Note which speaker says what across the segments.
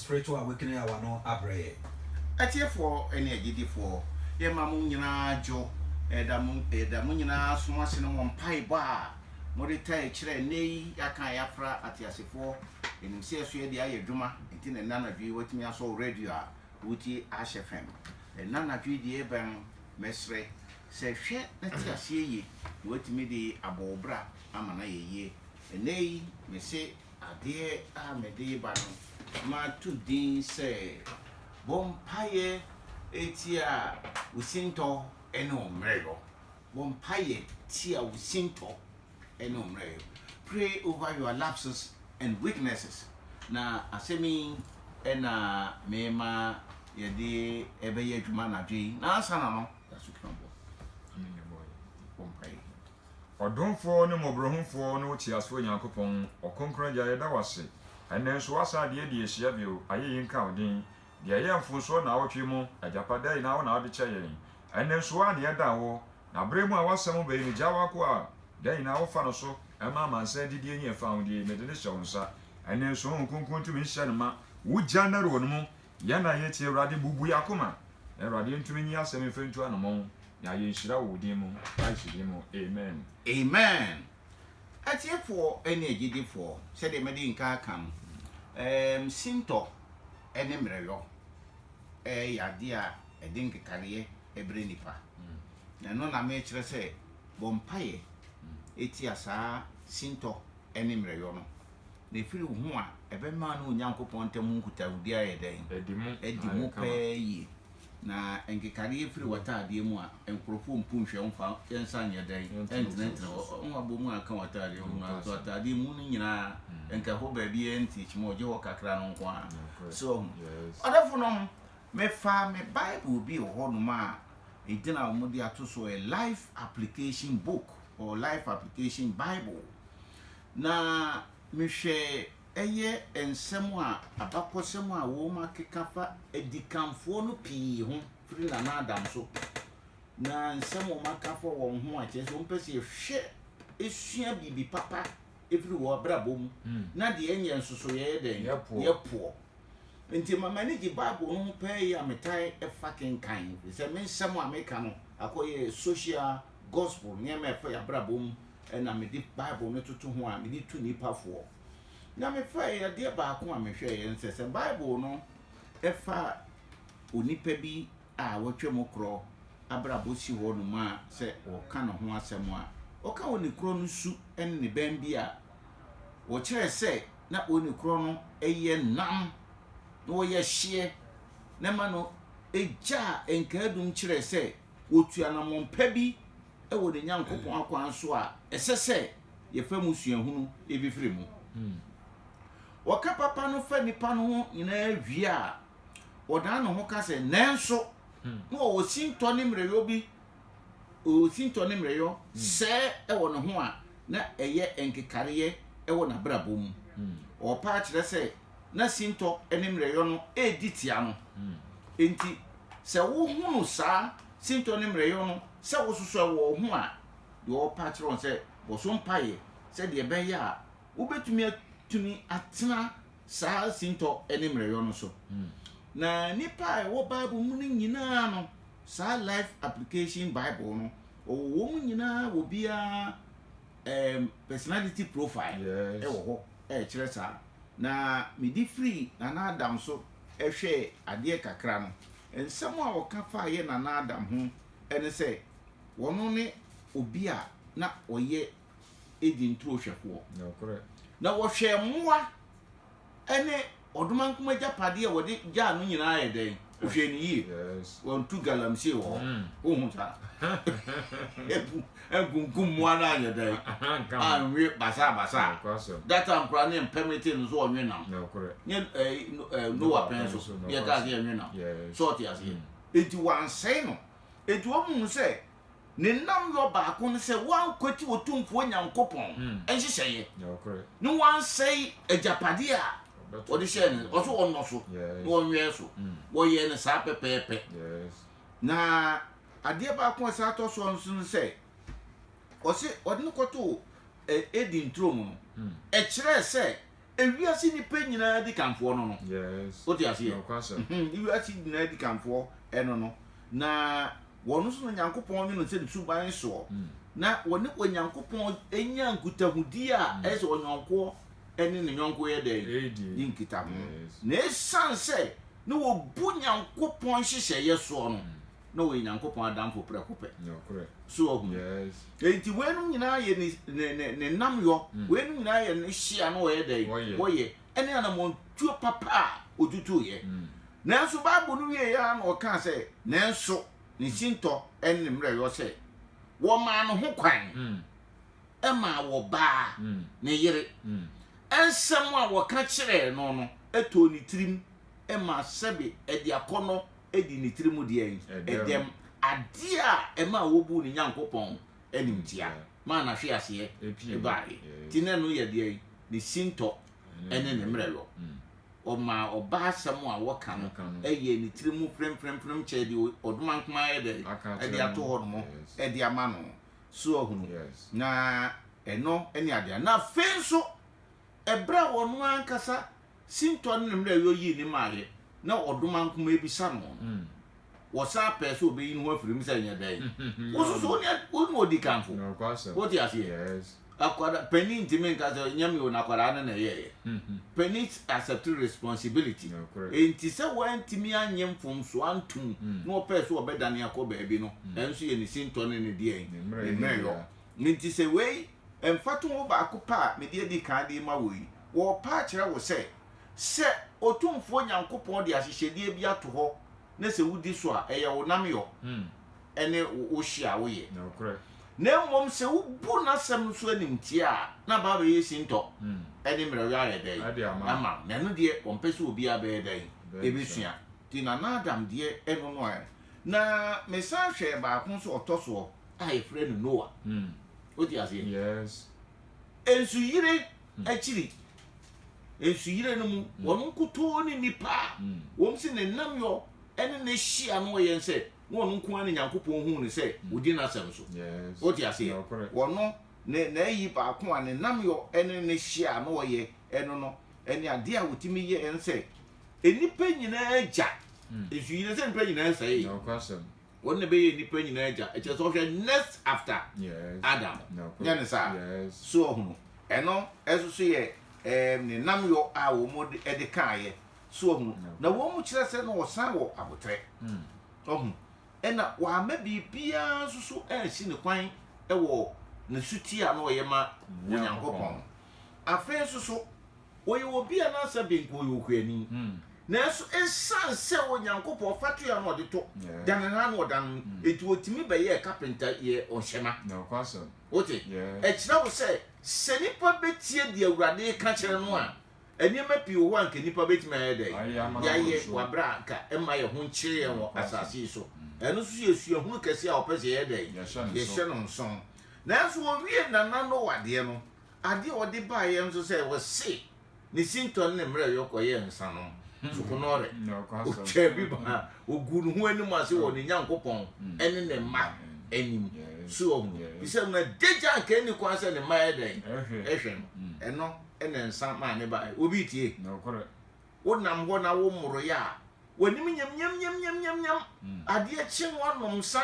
Speaker 1: Spiritual awakening a wano abrɛ yɛ. Atiefoɔ
Speaker 2: ne agyidifoɔ, yɛma mo nyinaa dwo, yɛda mo yɛda mo nyinaa som ase ne mo mpaebɔ a mode tae kyerɛ ɛnnɛ yi, yɛaka yɛafra ateasefoɔ, yɛnim sɛ ɛso yɛde ayɛ adwuma, nti na ɛnnɛ anadwo yi woatumi asɔ radio a wotie Ash FM, ɛnnɛ anadwo yi deɛ ɛrebɛn no, mɛsrɛ sɛ hwɛ na te aseɛ yie na woatumi de abɔ wo bra ama no ayɛ yie, ɛnnɛ yi mese. Adeɛ a mede reba no, mato din sɛ, Bɔ Mpaeɛ Tia Wo Sintɔ ne Wo Mmerɛyɔ. Bɔ Mpaeɛ Tia Wo Sintɔ ne Wo Mmerɛyɔ. Pray Over Your Lapses and Weaknesses. Na asɛm yi na merema yɛde ɛbɛyɛ adwuma anadwo yi. Na ansa na no, yɛasɔ kɛn abɔ. Ɛno na ɛbɔ yɛn. Bɔ mpaeɛ. Ɔdomfoɔ
Speaker 3: ne mmɔborɔhumfoɔ ne wo teasefoɔ Nyankopɔn, Ɔkronkron Agya, yɛda wo ase ɛnnɛ nso woasan de adi ahyia bio, ayɛyi nka wo din. Deɛ ɛyɛɛ mfomsoɔ naawɔtwe mu, agyapa da nyinaa wo na wode kyɛ yɛn, ɛnnɛ nso wo ara na yɛda wo, na berɛ mu a woasɛm bɛyi no gyaa w'akoa a da nyinaa wofa no so ma amansan adidie ne afahodie, mede no hyɛ wo nsa ɛnnɛ nso, Honhom Kronkron tumi nhyɛ no ma, wogya no wɔ no mu Yɛn a yɛtie Awurade, bubu yɛn akoma, na Awurade ntumi nyi asɛm mfa ntu anamɔn, na yɛ nhyira wɔ wo din mu, Christ din mu, amen. Amen!
Speaker 2: Atiefoɔ ne agyidifoɔ, sɛdeɛ madi nka aka no, ɛɛm, sintɔ ne mmerɛyɔ yɛ adeɛ a ɛde nkekareɛ brɛ nnipa. Na ɛno na merekyerɛ sɛ bɔ mpaeɛ tia saa sintɔ ne mmerɛyɔ no. na ɛfiri wo ho a, ɛbɛma wo ne Onyankopɔn ntam ho nkutahodie ayɛ dɛn? Adi mu pɛɛ yie. Na nkekadeɛ firi w'ataadeɛ mu a, nkurɔfoɔ mpu nhwɛ mfa nsa nyɛ dɛn? Ntenetene hɔ. Wo abɔ mu a ɛka w'ataadeɛ ho no ara, so ataadeɛ mu no nyinaa nka ɛhɔ baabiara nti kyima o, gye hɔ kakra no nko ara. So woahu? Ɔdɔfonom, mefaa me Bible bi wɔ hɔnom a ɛdin a wɔde ato so, A Life Application Book or Life Application Bible. Na mehwɛe ɛyɛ nsɛm a abakɔsɛm a wɔakeka fa adikanfoɔ no pii ho firi Nana Adams so, na nsɛm a wɔaka fa wɔn ho a kyerɛ sɛ wɔpɛ sɛ yɛhwɛ sua biribi papa firi wɔn abrabɔ mu na deɛ ɛnyɛ nso so yɛyɛ dɛn? Yɛpoɔ. Yɛpoɔ. Nti ma m'ani gye Bible no ho paa yi a metaa fa kenkan, firi sɛ me nsɛm a meka no akɔyɛ social gospel, nneɛma a ɛfa yɛn abrabɔ mu na mede Bible no toto ho a mede tu nnipa foɔ. Na mefɛɛe adeɛ baako a mehwɛeɛ nsɛ sɛ Bible no ɛfa onipa bi a watwa mu korɔ abrabɔ si hɔ nom a sɛ wɔka ne ho asɛm a wɔka wɔ ne korɔ no su ne ne bɛn bi a wɔkyerɛ sɛ na wɔ ne korɔ no ɛyɛ nam na wɔyɛ hyeɛ na ma no ɛgyaa nkaadum kyerɛ sɛ Wɔtu anammɔn pa bi wɔ ne Nyankopɔn akwan so a ɛsɛ sɛ yɛfa mu suahunu fifiri mu. Wɔka papa no fa nipa no ho nyinaa wie a, wɔdan ne ho ka sɛ, Nanso, na ɔwɔ sintɔ ne mmerɛyɔ bi, ɔwɔ sintɔ ne mmerɛyɔ sɛɛ wɔ ne ho a na ɛyɛ nkekareɛ wɔ n'abrabɔ mu. Ɔɔpa akyerɛ sɛ na sintɔ ne mmerɛyɔ no redi tia no. Enti, sɛ wohunu saa sintɔ ne mmerɛyɔ no sɛ wɔsosɔe wɔ wo ho a, deɛ wɔrepɛ akyerɛ wɔn sɛ bɔso mpaeɛ sɛdeɛ ɛbɛyɛ a wobɛtumi atumi atena saa sintɔ ne mmerɛyɔ no so. Na nnipa a ɛwɔ Bible mu no nyinaa no, saa Life Application Bible no, wɔwɔ wɔn nyinaa wɔ biara um, personality profile wɔ hɔ a ɛkyerɛ saa. na mede firii Nana Adam so hwɛɛ adeɛ kakra no, nsɛm a wɔka faa yɛn Nana Adam ho ne sɛ, ɔno ne obi a na ɔyɛ Eden turo hwɛfoɔ. Nokorɛ.
Speaker 3: Na ɔhwɛɛ
Speaker 2: mmoa ne ɔdomankoma agyapadeɛ a wɔde gyaa no nyinaa yɛ dɛn? Hwɛ no yie. Wɔntu galamsey wɔ hɔ. Wohu saa? Ebu nkunkum mmoa no anyɛ dɛn? Anwe basaa basaa. That time koraa ne mpɛmete no so wɔnwe nam. Nyɛ
Speaker 3: ɛɛ
Speaker 2: Noah pɛn so yɛ kaa sɛ yɛnwe nam. So ɔte aseɛ. Eti wansɛe no. Eti wɔn mu sɛ Ne nnamyɔ baako ne sɛ wɔankwati Otumfoɔ Nyankopɔn nhyehyɛeɛ ne
Speaker 3: wɔansɛe
Speaker 2: agyapadeɛ a wɔde hyɛɛ ne nsa. Ɔse wɔnnɔ so na wɔnwɛn so. Wɔyɛɛ no saa pɛpɛɛpɛ. Na adeɛ baako a ɛsan tɔ soɔ nso ne sɛ, ɔse wɔde no kɔtoo Eden turo mu no, ɛkyerɛɛ sɛ ewiase nnipa nyinaa dikanfoɔ no no. Yes. Wote aseɛ?
Speaker 3: Nokwasɛm.
Speaker 2: Mhm, Ewiase
Speaker 3: nyinaa
Speaker 2: dikanfoɔ ɛno no. Na wɔn so na Onyankopɔn nwe no sɛ ne suban soɔ. Na wɔne Onyankopɔn nya nkutahodie a ɛyɛ sɛ ɔyɔnkoɔ ne ne yɔnko yɛ dɛn? Ɛdi. Di nkitaho. Yes. Na ɛsiane sɛ na wɔbu Nyankopɔn nhyehyɛeɛ soɔ no, na ɔyɛ Nyankopɔn adamfo prɛko pɛ. Nokorɛ. So
Speaker 3: wahu?
Speaker 2: Yes. Enti
Speaker 3: weinom
Speaker 2: nyinaa yɛ ne, ne, ne, ne nnamyɔ, mm. weinom nyinaa yɛ ne hye a na ɔyɛ dɛn? Wɔyɛ. Wɔyɛ. Ɛne anamɔntuo papa a ɔtutuiɛ. Mm. Nanso Bible no wieeɛ ara na ɔkaa sɛ, nanso ne mm. sintɔ ne ne mmerɛyɔ sɛ, wɔmaa no ho kwan. Mm. ma wɔbaa mm. ne yere. Mm. Nsɛm a wɔka kyerɛɛ no no too ne tirim ma sɛbe ɛde akɔnnɔ di ne tirim deɛn? Ɛdɛm. Adeɛ a ɛmaa wɔbuu ne Nyankopɔn animtia maa n'ahweaseɛ baeɛ. Nti na ɛno yɛ deɛn? Ne sintɔ ne ne mmerɛyɔ. Ɔmaa ɔbaa asɛm a wɔka no yɛɛ ne tirim mu prempremprem kyɛɛ deɛ ɔdomankoma ayɛ dɛn? De ato hɔ nom de ama no. So wahunu? Na ɛno ne adeɛ. Na afei nso, berɛ a ɔno ankasa Sintɔ ne ne mmerɛwyɛ yii ne mmaeɛ na ɔdoma nkumaa bi sa no no, wɔsan pɛɛ sɛ wɔbɛyi ne ho afiri mu sɛ ɛnyɛ dɛn? Wo nso so wo ne wo ne ɔdi kanfo. Nokwasɛm. Wote aseɛ? Yes. Akwadaa panin ntumi nka sɛ ɛnyɛ me o na akwadaa no na ɛyɛeɛ. Panin s- accept responsibility. Nokorɛ. Enti sɛ wantumi annye mfomsoɔ antom na ɔpɛɛ sɛ ɔbɛdane akɔ baabi no, ɛno nso yɛ ne sintɔ ne ne deɛn? Ne mmerɛyɛ Ne mmerɛyɔ. biara. Enti sɛ wei mfatoho baako pɛ a mede adi kan de rema wo yi, wɔrepa akyerɛ wo sɛ, sɛ Otumfoɔ Nyankopɔn de ahyehyɛdeɛ bi ato hɔ na sɛ wodi so a, ɛyɛ wo nnamyɔ ne wo hye a woyɛ. Na mmom sɛ wobu n'asɛm so animtia a, na aba abɛyɛ sintɔ ne mmerɛwyɛ ayɛ dɛn ama wo. Na ɛno deɛ, wɔmpɛ sɛ obiara bɛyɛ dɛn? Ɛbɛsua. Nti Nana Adam deɛ, ɛno no ara. Na mesan hwɛɛ baako nso a ɔtɔ soɔ a wɔfrɛ no Noa. Wote aseɛ? Yes. Nsuyire hmm. akyiri. Nsuyire no mu, hmm. wɔn nkutoo ne nipa a hmm. wɔn si ne nam yɔ ɛne ne hyia no ɔyɛ nsɛ na wɔn nko ara ne Nyankopɔn hu ne sɛ odi n'asɛm so. Wote aseɛ? Wɔn ne n'ayi baako a ne nam yɔ ɛne ne hyia no ɔyɛ ɛno no ɛne adeɛ a wɔtumi yɛ ɛnsɛ nnipa nyinaa gya nsuyire sɛ nnipa nyinaa sɛe.
Speaker 3: wɔn na bɛyɛ nipa
Speaker 2: nyinaa agya ɛkyɛ sɛ ɔhwɛ next after adam nyɛ ne saa so ɔhono ɛno ɛso so yɛ ɛɛm ne nam yɔ a wɔn de ɛde kaayɛ so ɔhono na wɔn mu kyerɛ sɛ na ɔsan wɔ abotrɛ hmm. ɔho ɛna wɔama biribiara nso so ɛɛsi ne kwan ɛwɔ ne suti a na ɔyɛ ma onyankopɔn afei nso so Ɔyɛ obi a n'asɛm de nka ɔyɛ ɔkuani. Nanso esiane sɛ Onyankopɔn ɔfatoyɛ na ɔde to da ne nan na ɔda no nti, ɔtumi bɛyɛɛ kapenta yɛɛ ɔnhwɛma.
Speaker 3: Wote?
Speaker 2: Ɛkyerɛ wo sɛ, sɛ nipa bɛtie deɛ Awurade reka kyerɛ no a, nneɛma pii wɔ hɔ a anka nnipa bɛtumi ayɛ dɛn? Yɛayɛ wɔ aberɛ a anka ɛmma yɛn ho nkyere yɛn wɔ asase yi so. Ɛno nso yɛ suahunu kɛseɛ a ɔpɛ sɛ yɛyɛ dɛn? Yɛhyɛ no nsono. Nanso wɔwiee Nana Noah deɛ no, Ade a ɔde baeɛ nso sɛ wɔse ne sintɔ ne ne mmerɛyɔ kɔyɛɛ nsanom, hmm. sukunɔre, ɔtwaa bi baa ɔguu ne ho anim ase wɔ ne Nyankopɔn hmm. ne ne mma anim so ɔhu fi sɛ na dagya anka ɛni kwan sɛ ne mma yɛ dɛn ɛhwɛ no hmm. ɛno ɛna nsa maa ne baeɛ obi tie wonam hɔ na wommoroyɛ a w'anim nyamnyamnyamnyamnyam adeɛ kye ho anom nsa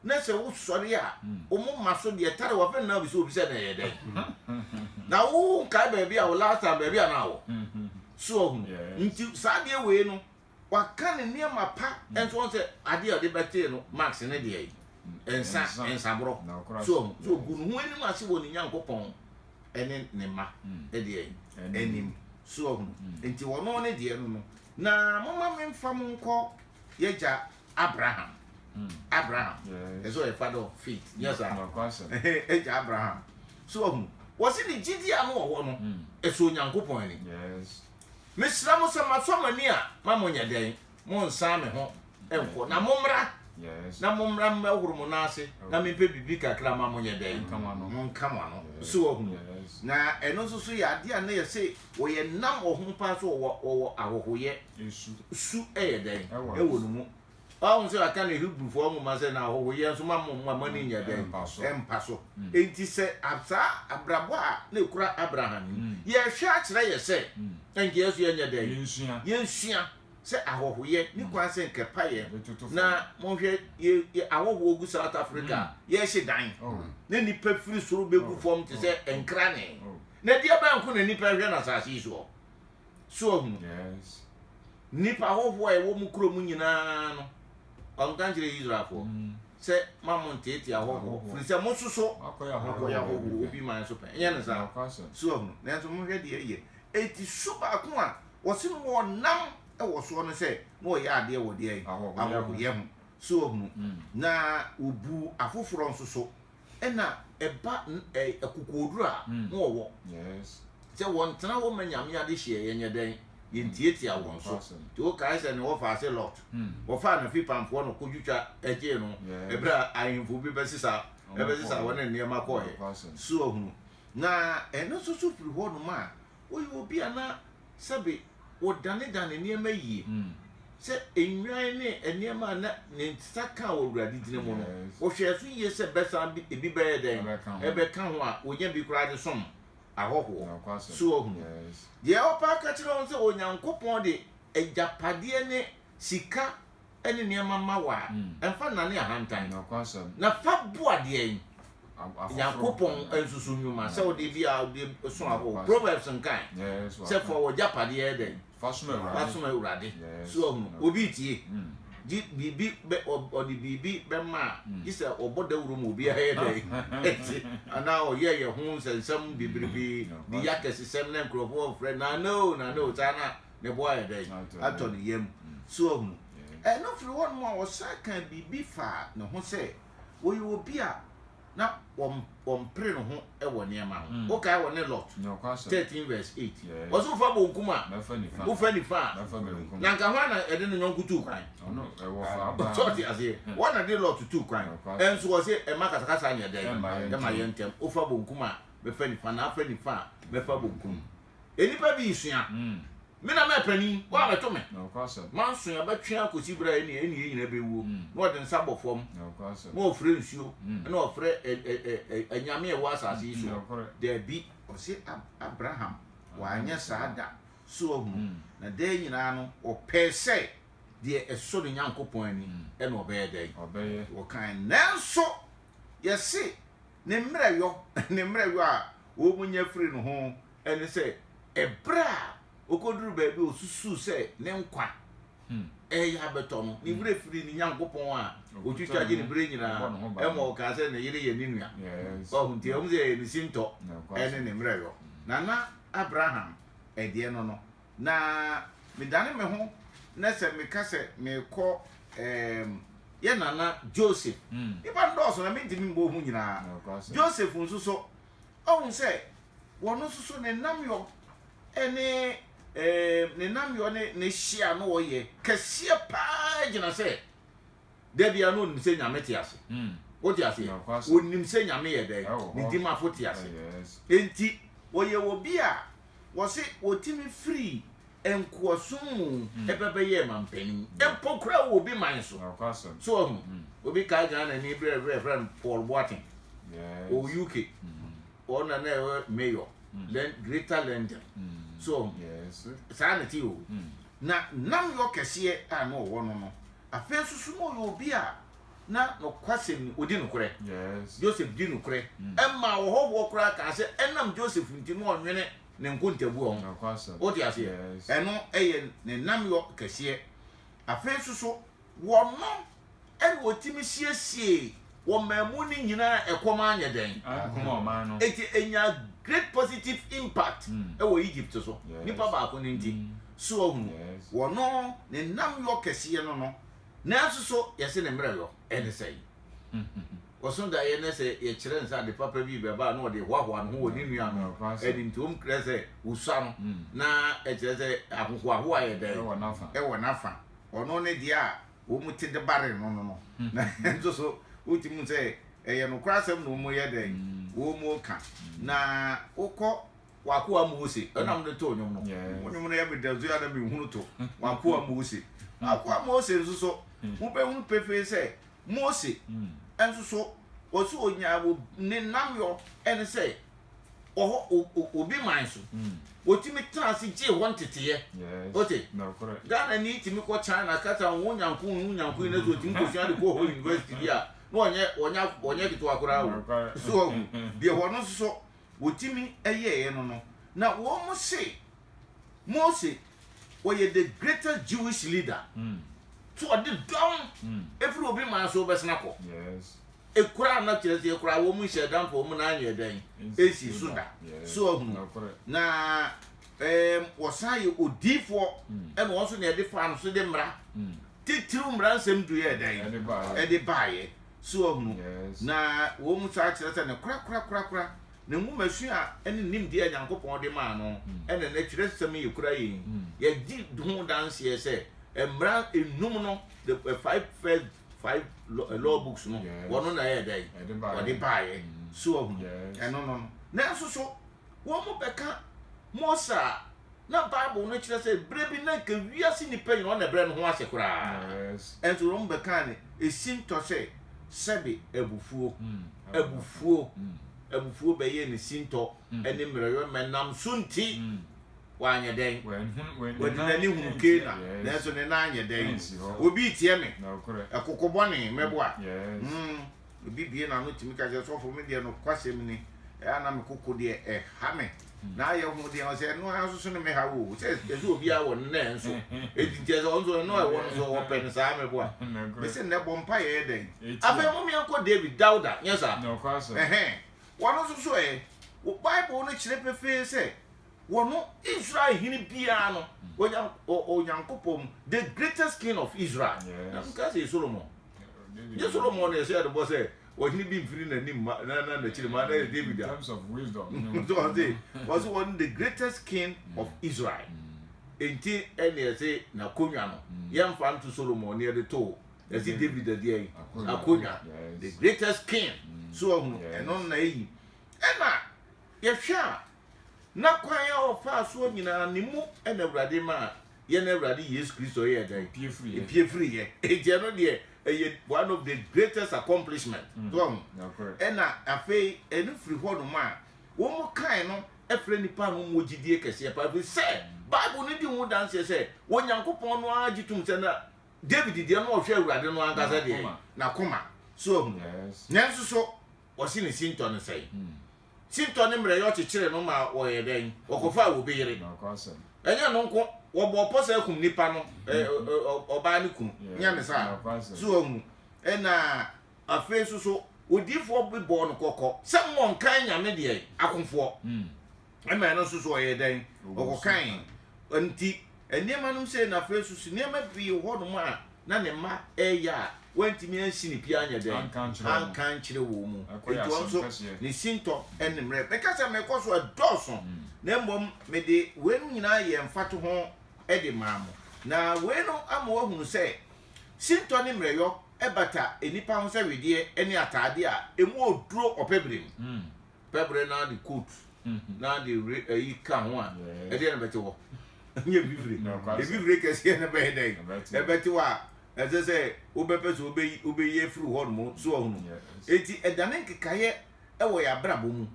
Speaker 2: na sɛ wosɔre a, wɔn mma so deɛ tare wɔn nan bi so obi sɛ na ɛyɛ dɛn na wo nkae baabi a wo last time baabi a na awɔ so ɔho nti saa deɛ wei no waka ne nneɛma pa nso wɔn sɛ adeɛ a ɔde bɛtee no max ne deɛ yi nsa nsaborɔ so ɔho so ogu ne ho anim ase wɔ ne nyankopɔn ɛne ne mma ɛdeɛ mm. yi anim so ɔho mm. nti wɔn ne deɛ no no na moma memfa mo nkɔ yɛgya Abraham. Abraham. Ɛsɛ ɔyɛ father of faith. Nyɛ saa. Agya Abraham. So ɔhu. Wɔsi ne gyidi a no wɔ hɔ no, ɛsɔ Onyankopɔn ani.
Speaker 3: Mesrɛ mo
Speaker 2: sɛ masɔ mo ani a, ma mo nyɛ dɛn? Mo nsan me ho nkɔ, na mo mmra, na mo mmra
Speaker 3: mmɛhoro
Speaker 2: mo nan ase, na me mpɛ biribi kakra ma mo nyɛ dɛn? Mo nka mo ano. So ɔhu. Na ɛno nso so yɛ adeɛ a na yɛ se wɔyɛ nam ɔho paa so wɔwɔ wɔwɔ ahohoyɛ. nsu. Su yɛ dɛn wɔ ne mu? Wahu sɛ wɔaka no Hebrifoɔ nwoma sɛ, Na ahɔhoyɛ nso mma mo mma mo ani nyɛ dɛn? Ɛmpa so. Enti sɛ saa abrabɔ a na ɛkura Abraham yi, yɛhwɛ a kyerɛ yɛn sɛ anka yɛn nso yɛnyɛ dɛn? Yɛnsua sɛ ahɔhoyɛ nni kwan sɛ anka ɛpa yɛn. Na monhwɛ yɛn ahɔhoɔ gu South Africa a, yɛhye dan na nnipa firi soro bɛgu fam te sɛ nkranee. Na deɛ bɛn nko na nnipa hwɛ no asase yi soɔ? So wahu no? Yes. Nnipa hɔhoɔ a ɛwɔ mu kuro mu nyinaa no, ɔnka nkyerɛ Israelfoɔ mm. sɛ ma mo nteetee ahɔhoɔ firi sɛ mo nso so akɔyɛ ahɔhoɔ obi man so pɛn ɛnyɛ ne saa so ahu nanso mohwɛ deɛ ɛyɛ ɛti su baako a wɔse no wɔnam wɔ soɔ no sɛ na wɔyɛ adeɛ wɔ deɛ ahɔhoyɛ ho so ahunu mm. na wɔbu afoforɔ nso so ɛna ɛba akokoɔduro a na wɔwɔ sɛ wɔntena hɔ ma Nyame adehyeɛ yɛnyɛ dɛn? yɛntiatia wɔn so nti wokae sɛ ne wɔfaa se Lot wɔfaa no fi pamfoɔ no kɔdwitwa gyee no ɛberɛ a ahemfo bi bɛsesa ɛbɛsesa wɔn nneɛma kɔɔɛ so ahunu na ɛno nso so firi hɔ nom a woyɛ obi a na sɛbe wɔdanedane nneɛma yie, sɛ nnwan ne nneɛma a na ne nsa ka wɔ wuradetina mu no, wɔhwɛɛ so yie sɛ bɛsan bi ebi bɛyɛ dɛn? Ɛbɛka ho a wɔnya bi koraa de som ahɔhoɔ. So wahunu? Deɛ ɔpɛ aka kyerɛ wo sɛ Onyankopɔn de agyapadeɛ ne sika ne nneɛma mma wo a, mfa nnane ahantan, na fa boa deɛ Nyankopɔn nsusu nnwuma sɛ wode bi a wode so ahorow. Proverbs nkae sɛ fa w'agyapadeɛ yɛ dɛn? Fa som Awurade. So ahunu obi retie? Gye biribi bɛ ɔde biribi bɛma a, gye sɛ ɔbɔ dawuro ma obiara yɛ dɛn? Te anaa ɔyɛ yɛn ho nsɛnsɛm bebrebe, di yɛ akɛsesɛm na nkurɔfoɔ mfrɛ nana o nana o saa na ne bo ayɛ dɛn? Atɔ ne yam. So wahu? Ɛno firi hɔnom a, ɔsan kaa biribi faa ne ho sɛ, ɔyɛ obi a na ɔmpere ne ho wɔ nneɛma ho. Wokae ɔne Lot? Thirteen verse eight. Ɔse wofa bonkum a, wofa nifa a, na nka hwan na ɛde ne nyɔnko tuu kwan? So ɔte aseɛ? Hwan na de Lot tuu kwan? Ɛnso ɔse ɛmma akasakasa nyɛ dɛn? Ɛmma yɛ ntɛm. Wofa bonkum a, mɛfa nifa, na afa nifa a, mɛfa bonkum. Nnipa bi resua. Me na mɛyɛ panin, woabɛto me. Manson abɛtwe akɔsi berɛ a ɛne yɛn nyinaa bɛwuo. Na ɔde nsa bɔ fam, na ɔfrɛ nsuo, na ɔfrɛ anyame a ɛwɔ asase yi so. Dabi. Ɔse, Abraham, wanyɛ saa da. So wahunu? Na daa nyinaa no, ɔpɛɛ sɛ deɛ ɛsɔ ne Nyankopɔn ani, ɛna ɔbɛyɛ dɛn? Ɔkae. Nanso, yɛse. Ne mmerɛwyɔ, ne mmerɛwyɔ a wɔnya firi ne ho ne sɛ, ɛberɛ a ɔkɔduru baabi a ɔsusuu sɛ ne nkwa ɛreyɛ abɛtɔ no, ne werɛ firi ne Nyankopɔn a ɔtwitwa gye no berɛ nyinaa, ɛma ɔkaa sɛ ne yere yɛ ne nua. Wahu nti, ɛwom sɛ ɛyɛ ne sintɔ ne ne mmerɛwyɔ, na na Abraham deɛ no no, Na medane me ho na sɛ meka sɛ merekɔ ɛɛm, yɛn nana Joseph. Nnipa no dɔɔso na mentumi mmɔ ho nyinaa. Joseph nso so, ɔhu sɛ wɔno nso so ne nnamyɔ ne ɛɛm, ne nnamyɔ ne ne hye a na ɔyɛ kɛseɛ paa gyina sɛ Da bia na onim sɛ Nyame te ase. Wote aseɛ? Onim sɛ Nyame yɛ dɛn? Ne dimafo te ase. Enti ɔyɛ obi a wɔse ɔtumi firii nkoasom mu ba bɛyɛɛ manpanin. Mpo koraa wɔ obi man so. So wahu? Obi kae Ghanani berɛ bi a yɛfrɛ no Paul Boateng. Ɔwɔ UK. Ɔno na na ɛyɛ mayor. Greater London. So wahu? Saa na ɛteɛ o. Na nnamyɔ kɛseɛ a na ɔwɔ no no, Afei nso so na ɔyɛ obi a na nokwasɛm ni, ɔdi nokorɛ. Joseph di nokorɛ maa ɔhɔhoɔ koraa kaa sɛ ɛnam Joseph nti na ɔnwene ne nkontabuo ho. Wote aseɛ? Ɛno yɛ ne nnamyɔ kɛseɛ. Afei nso so, wɔno na wɔtumi siesiee Wɔ mmamu no nyinaa ɛkɔm anyɛ dɛn? Ankum ɔman no. Enti enyaa great positive impact wɔ Egypt so, nipa baako no nti. So wahunu? Wɔno ne nnam yɔ kɛseɛ no no, nanso so yɛse ne mmerɛ yɔ? Ɛne sɛn? Ɔso daeɛ no sɛ yɛkyerɛ no sɛ ade papa bi rebɛba a na ɔde hoahoa ne ho wɔ ne nua no anim nti wɔn krɛ sɛ wɔsua no na ɛkyerɛ sɛ ahohoahoa yɛ dɛn? Ɛwɔ n'afa. Ɔno ne deɛ a. wɔn ti de baree no no no. Na nso so wotumi hu sɛ ɛyɛ nokorɛ asɛm na wɔn yɛ dɛn wɔn mu ka. Na wokɔ w'akoa Mose ɛnam de too nnwom no. Wo nnwom no yɛ me dɛ so yɛ na me hunu to w'akoa Mose. W'akoa Mose nso so wobɛhunu pefee sɛ Mose nso so wɔsi onyaa wɔ ne nnamyɔ ɛne sɛ wɔ hɔ o o obi man so hmm. wɔtumi tena ase gyee hɔ nteteeɛ wote ghana ni tumi kɔ china kasa wo nyanko wo nyanko yi na sɛ ɔtumi kɔsua de kɔ hɔ university bi a na ɔnyɛ ɔnyɛ ɔnyɛ ketewa koraa o so ahu deɛ hɔ no nso so wɔtumi ɛyɛeɛ no no na wɔn mo se mose wɔyɛ the greatest jewish leader hmm. so ɔde dɔm ɛfiri hmm. obi man so wobɛsena kɔ Ekura a na kyerɛ sɛ ekura a wɔn nhyɛ da mpo wɔn nan yɛ dɛn esi so da so ahunu na ɛɛm wɔsan yɛ odiifoɔ ɛna wɔn nso na yɛde faa no so de mmara titiriw mmara nsɛm du yɛ dɛn ɛde baayɛ so ahunu na wɔn nso akyerɛ sɛ ne korakora korakora ne nwomasua a ɛne nimdeɛ a Nyankopɔn de maa no ɛna na kyerɛ nsɛm yɛ kura yɛn yɛgye ho danseɛ sɛ mmara enum no the five first five eh, law books no wɔn na ɛyɛ dɛ wɔde baayɛ mm. so ɔhu ɛno no no nanso so wɔn mo bɛka mose a na bible no kyerɛ sɛ bere bi na nka wiase nipa nyinaa ɔna brɛ ne ho ase koraa ɛnso wɔn bɛka ne esi ntɔ sɛ sɛbi abufuo mm. abufuo mm. abufuo bɛyɛ ne si ntɔ ɛne mmerɛyɔ mɛnam so nti Wanyɛ dɛn? Ɔde n'ani hunu Kana, nanso ne nan anyɛ dɛn? Obi reteɛ me. Ɛkoko bɔne, mɛboa. Mm, obi bue n'ano tumi ka sɛ, Sɔfo, me deɛ nokwasɛm ni, ɛyɛ a na me koko deɛ ɛha me. Na ayɛ ho deɛ, ɔsɛ ɛno ara nso so ne mehaw o. Sɛ ɛsɛ obiara wɔ no, na ɛnso. Enti nti ɛsɛ ɔnso ɛno a ɛwɔ no nso ɔpɛ no saa, mɛboa. Me se nnɛ bɔ mpaeɛ yɛ dɛn? Afei mom yɛnkɔ David, Dawuda, nyɛ saa? Ɛhɛn.
Speaker 3: Wɔn nso
Speaker 2: so ɛ? Bible no kyerɛ pefee sɛ wɔ no Israel hene biara no onya Onyankopɔn mu the greatest king of Israel na no ka sɛ Solomon nye Solomon na ɛhyɛ ɛdebɔ sɛ ɔhene bi mfiri n'anim ma na na n'akyiri ma na yɛ David a so
Speaker 3: ɔse
Speaker 2: ɔse wɔn the greatest king of Israel enti ɛne ɛse n'akonnwa no yɛmfa nto Solomon ne ɛde too ɛse David adeɛ yi akonnwa the greatest king so ɔhunu ɛno na ɛyi ɛna yɛhwɛ a na kwan a ɔfaa soɔ nyinaa ne mu na Awurade maa yɛn Awurade Yesu Kristo yɛɛ dɛn? Epie firi yɛ. Enti ɛno deɛ ɛyɛ one of the greatest accomplishment. Mm. So ɔho. Ɛna afei ɛno firi hɔ nom a wɔn kan no ɛfrɛ nipa no mu gyidie kɛseɛ paa firi sɛ Bible no di ho danseɛ sɛ Onyankopɔn no ara gye tom sɛ na David deɛ no ɔhwɛ Awurade no ankasa deɛ n'akoma. So ɔho. Nanso so wɔse ne sintɔ no sɛe. Hmm. Sintɔ ne mmerɛyɛ ɔkyekyere no ma wɔyɛ dɛn? Wɔkɔfaa obi yere. Ɛnyɛ no nko, wɔbɔɔ pɔ sɛ akum nnipa no, hmm. ɔbaa ne kunu. Nyɛ ne saa. So ahu. Ɛna afei nso so, odiifoɔ bi bɔɔ no kɔkɔ sɛ mmɔ nkan nyame deɛ akofoɔ. Hmm. ɛma ɛno nso so ɔyɛ dɛn ɔkɔkan nti nneɛma nom sɛ na afei so so nneɛma pii wɔ hɔnom a na ne mma ɛyɛ a wantumi ansi ne pia anyɛ dɛn anka nkyerɛ wɔ mu nti wɔn nso ne sintɔ ne mmerɛ meka sɛ mekɔ so ɛdɔɔso hmm. na mmom mede weinom nyinaa yɛ mfato ho de maa mo na wei no ama wahunu sɛ sintɔ ne mmerɛyɔ ɛbata nnipa ho sɛ wedeɛ ne ataadeɛ a ɛmu ɔduro ɔpɛ berɛ mu hmm. pɛbrɛ na de coat na de re ɛyi ka ho a ɛdeɛ na bɛte hɔ nyɛ bibire ebibire kɛseɛ na bɛyɛ dɛ ɛbɛte hɔ a ɛsɛ sɛ wobɛpɛ sɛ wobɛyi wobɛyi afiri hɔ nom so ahunu eti ɛdane nkekaeɛ ɛwɔ yɛ abrabɔ mu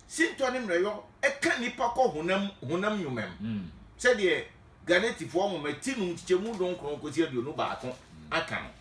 Speaker 2: sintɔ ne mmerɛyɔ ɛka nipa kɔ honam honam nnwomam mm. sɛdeɛ Ghanatifoɔ nwoma ti no nkyekyɛmu donkron kɔsi aduonu baako aka no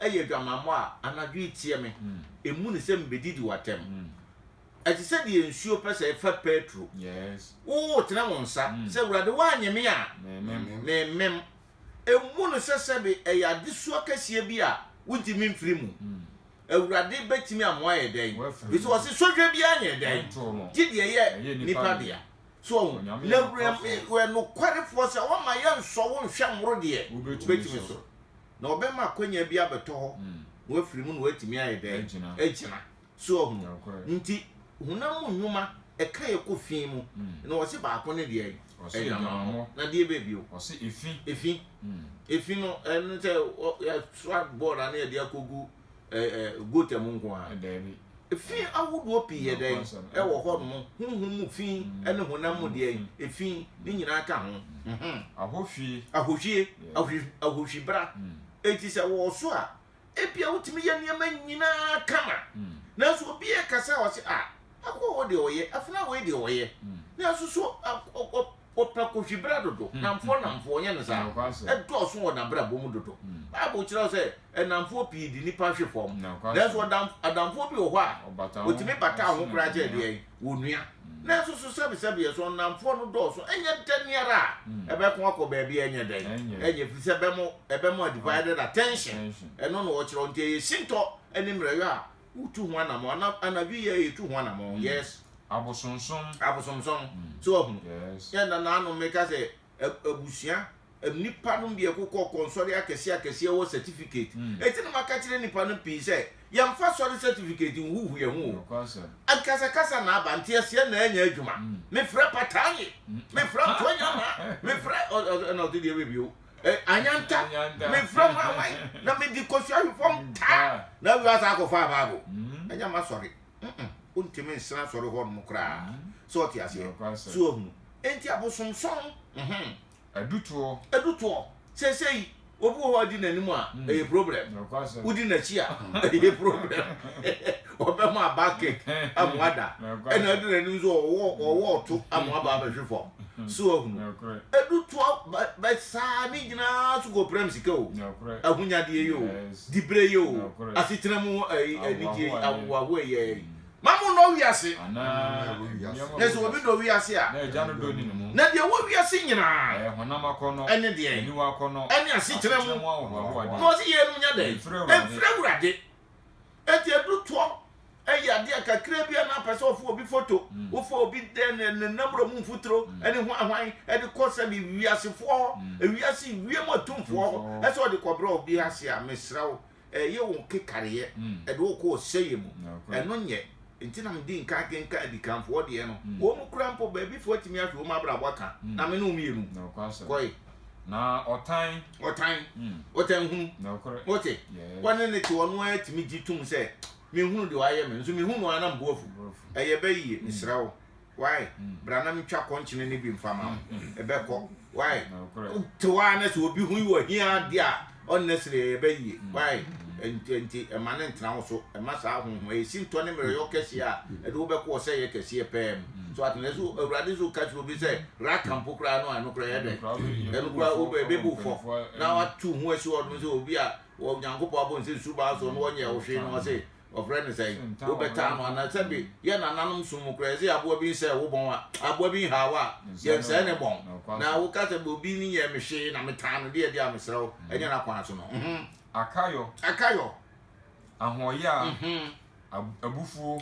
Speaker 2: yɛ adwamammɔ a, anadwo yi teɛ me. Mmu no sɛ mebɛdidi w'atɛm. Ɛte sɛ deɛ nsuo pɛ sɛ ɛfa Petro. Wotene
Speaker 3: wo nsa
Speaker 2: sɛ, Awurade, woannye me a, meremmem. Mmu no sɛ sɛbe ɛyɛ adesoa kɛseɛ bi a wontumi mfiri mu. Awurade bɛtumi ama woayɛ dɛn? Ɛfiri sɛ ɔse, Sɔhwɛ biara nyɛ dɛn? Gye deɛ ɛyɛ nnipa dea. So woahu? Na Awurade yɛ nokwarefoɔ sɛ ɔremma yɛnsɔ wo nhwɛ mmoro deɛ wobɛtumi so. na ɔbɛma akwanya bi abɛtɔ hɔ na wafiri mu na watumi ayɛ dɛn agyina so ahunu nti honam mu nnwuma ɛka yɛ kɔ fi mu hmm. na wɔsi baako ne deɛ ɛdwamamɔ na deɛ baabi o efi efi
Speaker 3: hmm.
Speaker 2: efi no ɛno sɛ yɛsoa bɔɔl na yɛde akɔgu gota mu nko ara efi ahodoɔ pii yɛ dɛn ɛwɔ hɔ nom huhum mu fi ɛne honam mu deɛ efi ne nyinaa ka ho ahohwie ahohwie ahohwie bra hmm. eti sɛ wɔwɔ so a ebia wotumi yɛ nneɛma nyinaa kama hmm. nanso obi yɛ kasa a ɔsɛ a akɔ wɔ deɛ ɔyɛ afena wɔ deɛ ɔyɛ hmm. nanso so Ɔpɛ kohyibere dodo, nnamfoɔ nnamfoɔ, ɔnyɛ no saa? Ɛdɔɔso wɔ n'abrabɔ mu dodo. Bible kyerɛw sɛ nnamfoɔ pii de nnipa hwe fam, nanso adamfoɔ bi wɔ hɔ a ɔtumi bata ho koraa kyɛ deɛn? Onua. Nanso so sɛbesɛbeɛ so nnamfoɔ no dɔɔso? Ɛnyɛ da ni ara a ɛbɛko akɔ baabi a ɛnyɛ dɛn? Ɛnyɛ, ɛfiri sɛ ɛbɛmo, ɛbɛmo a divided attention, ɛno na ɔkyerɛw. Nti ɛyɛ sintɔ ne mmerɛyɔ a Wotu ho anamɔn. Ana anadwo yi a yɛtu ho anamɔn. Mm. Yes. Abosonsom.
Speaker 3: Abosonsom. Mm.
Speaker 2: So wahu. Yes. Yɛ na nanom meka sɛ abusua nipa no bi ɛkokɔ kɔnsɔre akɛse akɛse ɛwɔ certificate. Mm. Eti no maka kyerɛ nipa no pii sɛ yɛmfa sɔre certificate nhuhu yɛn ho o. Akasakasa na aba nteaseɛ na ɛnyɛ adwuma. Mm. Mefrɛ pataanye. Mm. Mefrɛ ntɔnyama. Mefrɛ ɛna ɔte deɛ bɛbio. Eh, anyanta, anyanta. me frɛ ho awan na mede kɔsi ahwe fam taa ah. na awia asa akɔfa abaabo mm. ɛnyɛ ma sɔre wontumi nsena asɔre hɔ nom koraa mm. sɛ ɔte aseɛ so ahunu enti abosomsɔn mhm. adutoɔ adutoɔ seesei obi wɔ hɔ adi n'anim a ɛyɛ problem wodi n'akyi a ɛyɛ problem ɔbɛma aba kek ama ada ɛna ɛde n'anim nso ɔwɔ ɔwɔ ɔto ama aba abɛhwe fam so ahunu ɛdu toa bɛ saa ne nyinaa so kɔpiram sika o ahonyadeɛ yɛ o diberɛ yɛ o asetena mu anigye ahowaho ɛyɛ yi ma mo nɔ wiase na sɛ obi dɔ wiase a
Speaker 3: na deɛ wɔ wiase
Speaker 2: nyinaa ɛne
Speaker 3: deɛ ɛne asetena mu
Speaker 2: na ɔse yɛ no nya dɛ ɛmfiri awurade Enti edu toɔ yɛ adeɛ a kakra bi a na apɛ sɛ ɔfa obi foto, mm. wofa obi dɛ ne ne namura mu mfuturo mm. ɛne hwanhwan ɛde kɔ sɛ de wiasefoɔ hɔ mm. ewiase wiem atumfoɔ hɔ ɛsɛ ɔde kɔbrɛ obi ase a mesrɛ wo ɛyɛ wo kekareɛ ɛde wo kɔ ɔsɛyɛ mu ɛno nyɛ nti na medi nka kenka adikanfoɔ deɛ no wɔn mu kura mpo baabifoɔ atumi ahwɛ wɔn abrabɔ aka na me ne wɔn mmienu kɔe Na
Speaker 3: ɔtan. Ɔtan. Mm. Ɔtan hunu. Nɔkorɛ. Wote? Yes. Wɔne ne te ɔno ara tumi gye tom sɛ mehunu deɛ wayɛ me nso mehu no ara na mbu afu. Ɛyɛ bɛ yie, mm. mesrɛ wo. Wae, mm. bra na metwa kɔnkyene no bi mfa ma wo. Mm. Ɛbɛkɔ. Wae. Wote hɔ ara na sɛ obi hui wɔ hia adeɛ a Honestly ɛyɛ ba yie why nti nti ɛma no ntena wo so ɛma saa ahohoa yɛ sintɔ ne mmerɛyɔ kɛseɛ a ɛde wo bɛkɔ ɔsɛ yɛ kɛseɛ pɛɛ mu so ate na so awurade so ka kyerɛ obi sɛ raka mpo koraa no a ɛno koraa yɛ dɛ ɛno koraa wobɛ ɛbɛbu fɔ na watu ho asi hɔ nom sɛ obi a onyankopɔn abɔ nsɛ su baa so no wɔnyɛ wo hwee no ɔse wɔfrɛ no sɛn wobɛta ano anaa sɛ bi mm. yɛ nananom som mu koraa ɛsɛ aboa bi nsɛ wo bɔn a aboa bi nhaa wo a yɛnsɛe ne bɔn na woka sɛ obi ne yɛ me hwee na metaa no deɛ deɛ a mesrɛ wo mm. ɛnyɛ no akwan so no mhm. akayɔ akayɔ ahoɔyɛ a mhm. abufuo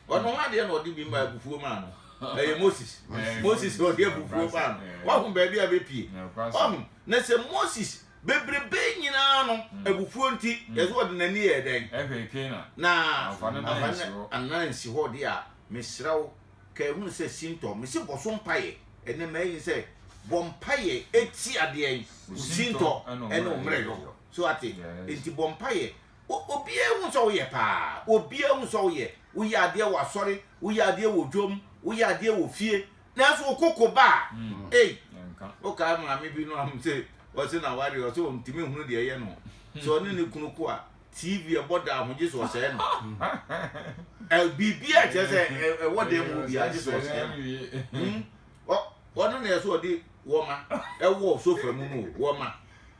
Speaker 2: ɔno ho adeɛ na ɔde bi ma abufuo maa no ɛyɛ moses moses na ɔde abufuo maa no wahu baabi a bɛpie ɔho na sɛ moses bebrebe nyinaa no hmm. abufuo nti hmm. yɛsɛ ɔde n'ani yɛ dɛn na anana nsi hɔ deɛ a mesrɛ wo ka ɛhunu sɛ sintɔ mese bɔ so mpayɛ ɛnɛ mayi sɛ bɔ mpayɛ ɛti adeɛ sintɔ ɛne ɔmmerɛ yɔ so ate nti bɔ mpayɛ Obiara hu sɛ woyɛ paa. Obiara hu sɛ woyɛ. Woyɛ adeɛ wɔ asɔre, woyɛ adeɛ wɔ dwom, woyɛ adeɛ wɔ fie. Nanso wo koko ba a, ei! Wokae maame bi no a ɔse ɔse n'awareɛ ɔse ɔntumi nhunu deɛ ɛyɛ no. Sɛ ɔne ne kunu ko a, TV a ɛbɔ daa ho gye sɛ ɔsɛe no. Biribiara kyerɛ sɛ ɛwɔ dan mu hɔ biara gye sɛ ɔsɛe no. Ɔno na ɛsɛ ɔde wɔma ɛwɔ sofa mu no o, wɔma.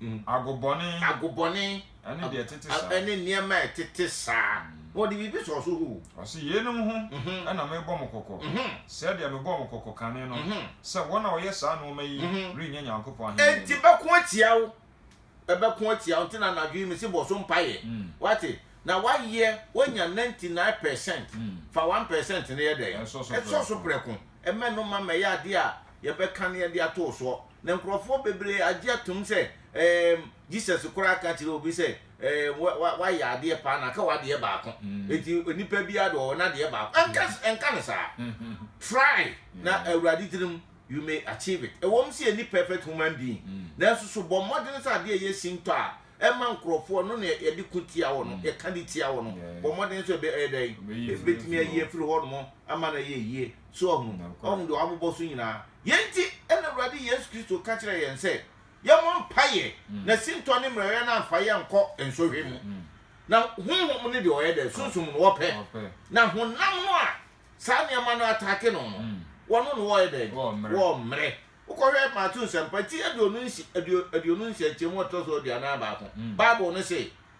Speaker 2: mu. Agobɔne. Agobɔne. Ɛne deɛ
Speaker 3: ɛtete
Speaker 2: saa. Ɛne nneɛma a ɛtete saa. Na ɔde biribi sɔɔ so hoo. Ɔse, Yeinom ho
Speaker 3: na merebɔ mo kɔkɔ, sɛdeɛ mebɔɔ mo kɔkɔ kane no, sɛ wɔn a wɔyɛ saa nnoɔma yi rennya Nyankopɔn ahennie no. Enti bɛko atia
Speaker 2: wo. Ɛbɛko atia wo. Nti na anadwo yi mese bɔ so mpaeɛ. Woate? Na woayɛ, woanya ninety nine percent. Fa one percent no yɛ dɛn? Sɔ so prɛko. Mmɛ no mma mmɛyɛ adeɛ a yɛbɛka na yɛde ato wo soɔ. na nkurɔfoɔ bebree agye atom sɛ ɛɛm Jesus koraa ka kyerɛ obi sɛ ɛɛm wa wa wayɛ adeɛ paa na ka w'adeɛ baako eti nipa biara de ɔwɔ n'adeɛ baako ɛnka ɛnka no saa try na awurade tirim you may achieve it ɛwɔm sɛ yɛ ni perfect human being nanso so bɔ mmɔden sɛ adeɛ yɛ sintɔ a ɛma nkurɔfoɔ no na yɛde ko tia wɔ no yɛka de tia wɔ no bɔ mmɔden sɛ ɛbɛ ɛdɛn ɛbɛtumi ayi afiri hɔ nom ama no yɛ yie so ɔhunu ɔhunu deɛ wabobɔ so nyinaa Yei nti na Awurade Yesu Kristo ka kyerɛɛ yɛn sɛ yɛmmɔ mpaeɛ na sintɔ ne mmerɛyɛ no amfa yɛn ankɔ nsɔhwɛ mu. Na honhom no deɛ ɔyɛ dɛ, sunsum no ɔpɛ, na honam no a saa nneɛma no ataake no no, wɔno no wɔyɛ dɛn? Wɔmmrɛ. Wokɔhwɛ Mateo Nsɛmpa ti aduonu nsia, aduonu nsia nkyɛmu a ɛtɔ so aduanan baako, Bible no se,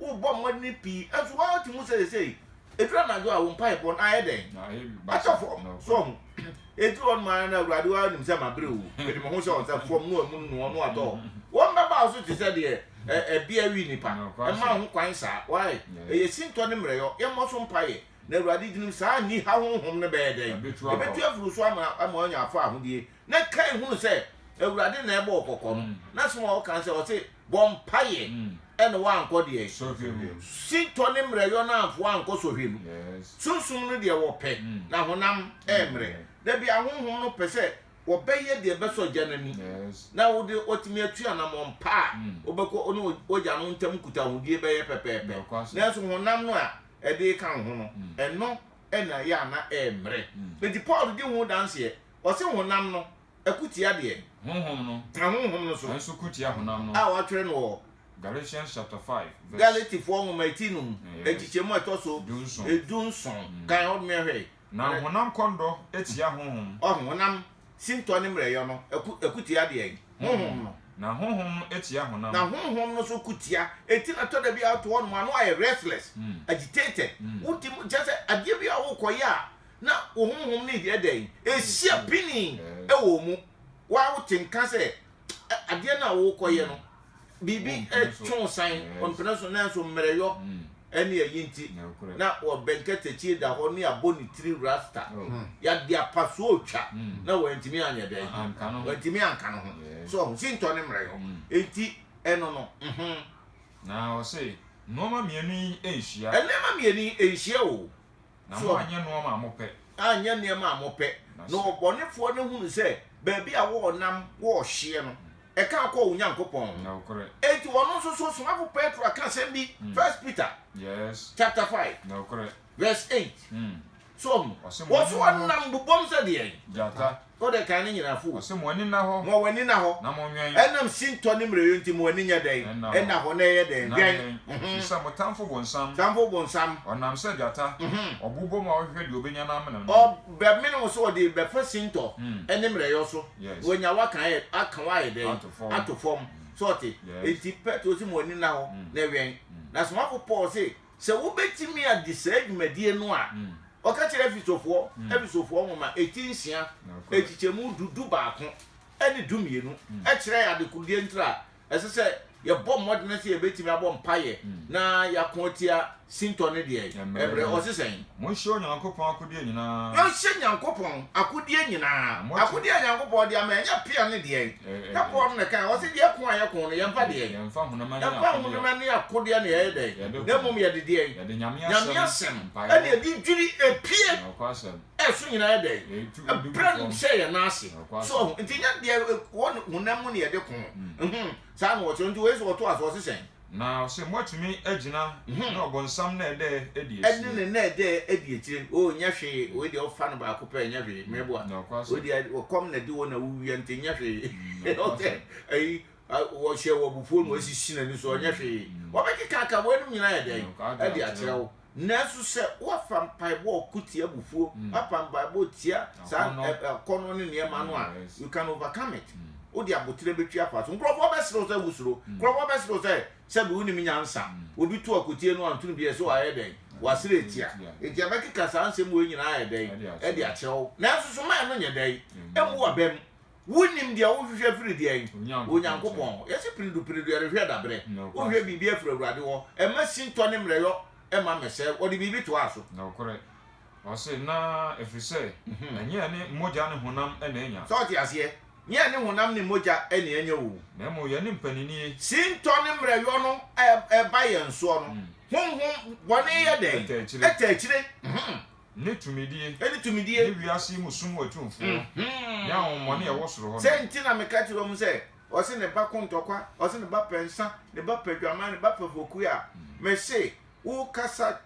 Speaker 2: Wobɔ mmɔden pii, nso wote mu sɛ seesei ɛduru anadwo a wo mpaebɔ no ayɛ dɛn? Atɔ fam. So ɔho? Ɛduru hɔ nom ara no, Awurade, wo ara nim sɛ mabrɛ o, mede me ho hyɛ wo nsa, fam no a munu no ɔno atɔ hɔ. Wɔn bɛba wo so te sɛ deɛ ɛbea we nnipa. Mma ho kwan saa. Why? Ɛyɛ sintɔ ne mmerɛyɔ. Yɛmmɔ so mpaeɛ. Na Awurade, dinim saa aniha honhom no bɛyɛ dɛn? Ɛbɛtu afiri wo so ama woanya afa ahodie. Na Kain hunu sɛ Awurade na ɛbɔ ɔkɔkɔ no, n'asɛm a ɔka sɛ ɔse bɔ mpaeɛ ɛna wankɔ deɛ? Sɔhwɛ mu. Sintɔ ne mmerɛyɔ no amfoa ankɔ sɔhwɛ mu. Sunsum no deɛ wɔpɛ, na honam ɛmmerɛ. Dabi ahonhom no pɛ sɛ wɔbɛyɛ deɛ ɛbɛsɔ Agya no ani, na wode watumi atu anammɔn pa a wobɛkɔ ne w'Agya no ntam nkutahodie bɛyɛ pɛpɛɛpɛ. Nanso honam no a ɛde reka wo ho no, ɛno na ɛyɛ a na ɛmmerɛ. Enti Paul di ho danseɛ Ɔse honam no ko tia deɛ. Honhom no. Na honhom no so. Nso ko tia honam no.
Speaker 3: A wɔatwerɛ no wɔ.
Speaker 2: Galatians chapter
Speaker 3: five verse. Galatifoɔ nwoma
Speaker 2: eti num nkyekyɛmu a ɛtɔ so. Dunson. Dunson. Kan hɔ mmea hwɛ. Na honam kɔndɔ
Speaker 3: tia honhom. Ɔho honam
Speaker 2: sintɔ ne mmerɛyɔ no ko ko tia deɛ. Honhom no. Na honhom no
Speaker 3: tia honam. Na honhom no
Speaker 2: so
Speaker 3: ko
Speaker 2: tia. Enti na tɔda bi a wote hɔ nom a na wayɛ restless, agitated, wodi mu kyerɛ sɛ adeɛ bi a wokɔyɛ a na wo honhom no yɛ dɛn? Ɛrehyia pinnii wɔ wo mu. Wo ara wote nka sɛ adeɛ no a worekɔyɛ no, biribi twe wo san, ɔmpene so, nanso mmerɛyɔ ne ayi nti, na ɔbɛnkatakyie da hɔ ne abɔ ne tiri rasta, yɛde apasoɔ retwa, na wantumi anyɛ dɛn? Wantumi anka ne ho. So ɔho, sintɔ ne mmerɛyɔ. Enti ɛno no. Na
Speaker 3: ɔse, nnoɔma mmienu yi nhyia. Nneɛma mmienu
Speaker 2: yi nhyia o. Na So moanyɛ
Speaker 3: nnoɔma a mopɛ. anyɛ nneɛma a
Speaker 2: mopɛ. Na Na sɛ- ɔbɔnefoɔ no hunu sɛ baabi a wɔrenam wɔrehyeɛ no, ɛka akɔ wo Nyankopɔn ho. Nokorɛ. Enti
Speaker 3: ɔno nso so
Speaker 2: ɔsomafo Petro aka asɛm bi, 1 Peter Yes. chapter 5 Nokorɛ.
Speaker 3: verse
Speaker 2: 8. Mm. So ɔho, Ɔse, wɔso "Mommɔ ho-" ɔnam bobom sɛ deɛn? Gyata. Kɔ dɛ
Speaker 3: kan ne nyina
Speaker 2: fow. Ɔse mo ani nna hɔ. Mo
Speaker 3: ani nna hɔ. Na mo nwɛn. Ɛnam sintɔ ne mmerɛyɔ
Speaker 2: nti mo ani nyɛ dɛn? Ɛnna hɔ. Na ɛyɛ dɛn? Nna Dwɛn. dɛn? Ɛfiri sɛ mo tamfo
Speaker 3: bonsam. Tamfo bonsam.
Speaker 2: Ɔnam sɛ gyata.
Speaker 3: Ɔbobɔ mu a ɔhwehwɛ deɛ ɔbɛnya na amene no. Ɔbɛmene wo
Speaker 2: sɛ ɔde bɛfa sintɔ. Ne mmerɛyɔ so. Yes. Wanya wo aka ayɛ, aka wo ayɛ dɛn? Ato fam. Ato fam. So ɔte? Yes. Enti Petro se mo ani nna hɔ. Na ɛwɛn. Na somafo Paul se Sɛ wobɛtumi agye saa dwumadie no a, ɔka kyerɛ Efesofoɔ, Efesofoɔ nwoma eti nsia, nkyekyɛmu du du baako ne du mmienu, kyerɛ yɛn adekorodeɛ ntira a ɛsɛ sɛ yɛbɔ mmɔdene sɛ yɛbɛtumi abɔ mpaeɛ na yɛako atia sintɔ ne deɛ? Ɛmerɛ. Ɔse sɛn? Monhyɛ Onyankopɔn
Speaker 3: akodeɛ nyinaa. Yɛnhyɛ Nyankopɔn
Speaker 2: akodeɛ nyinaa. Akodeɛ a Nyankopɔn de ama yɛn, ɛnyɛ pea ne deɛn? Jakob no na ɛkae, ɔse, Deɛ ko a yɛko no, yɛmfa deɛn? Yɛmfa
Speaker 3: honam ɛne
Speaker 2: akodeɛ na yɛyɛ dɛn? Na mmom yɛde deɛn? Yɛde Nyame
Speaker 3: asɛm ɛne yɛde
Speaker 2: dwiri epie ɛso
Speaker 3: nyinaa yɛ dɛn?
Speaker 2: Ɛbrɛ no hyɛ yɛn nan ase. So ɔho, nti nyɛ deɛ ɛwɔ honam mu na yɛde ko. Saa na ɔkyerɛ, nti wei so ɔtoa so, ɔse sɛn? Na ɔse moatumi
Speaker 3: agyina ne ɔbɔnsam na ɛdɛ ɛdi akyire. Ɛne ne na ɛdɛ
Speaker 2: ɛdi akyire no oh nyɛ hwee wei deɛ ɔfa no baako pɛ nyɛ hwee mɛboa wei deɛ ɔkɔm na ɛde wo na wo wia nti nyɛ hwee ɔsɛ ayi wɔhyɛ wɔ abufuo no asisi n'ani so ɔnyɛ hwee wɔbɛkeka aka weinom nyinaa yɛ dɛn ɛde akyerɛ wo. Nanso sɛ woafa mpaebɔ a ɔko tia abufuo, woapa mpaebɔ tia saa akɔnnɔ ne nneɛma no a, you can overcome it. Wode aboterɛ bɛtwi afa so. Nkurɔfoɔ bɛsere wo sɛ wosuro. Nkurɔfoɔ bɛsere wo sɛ sɛbe wonim nyansa. Obi to akotie no a, ntono biara ɛsɛ wayɛ dɛn? Wasere atia. Enti ɛbɛkeka saa nsɛm wei nyinaa ayɛ dɛn? De akyerɛ wo. Nanso soma a ɛno nyɛ dɛn? Ɛmmu w'abam. Wonnim deɛ wohwehwɛ firi deɛn? Onyankopɔn hɔ. Yɛse piridupiredu, yɛrehwɛ daberɛ. Wohwɛ biribi afiri Awurade hɔ. Ɛma sintɔ ne mmerɛyɔ ma mmɛsɛe. Ɔde biribi toaa so. Nokorɛ.
Speaker 3: Ɔse, na ɛfiri sɛ ɛnyɛ yɛne mogya ne honam na anya. Sɛ wote aseɛ?
Speaker 2: Nyɛ yɛne honam ne mogya na anya oo. Na mmom yɛne mpaninnie.
Speaker 3: Sintɔ ne
Speaker 2: mmerɛyɔ no ba yɛn soɔ no, honhom bɔne yɛ dɛn? Ɛtaa akyire. Ɛtaa akyire. Ne
Speaker 3: tumidie. Ne tumidie. Ne wiase
Speaker 2: yi mu sum
Speaker 3: atumfoɔ. Ne ahonhommɔne a ɛwɔ soro hɔ no. Sɛ nti na meka kyerɛ wɔn
Speaker 2: sɛ, Ɔse ne ba ko ntɔkwa, ɔse ne ba pɛ nsã, ne ba pɛ dwaman, ne ba pɛ fɔkuo a, mese, Worekasa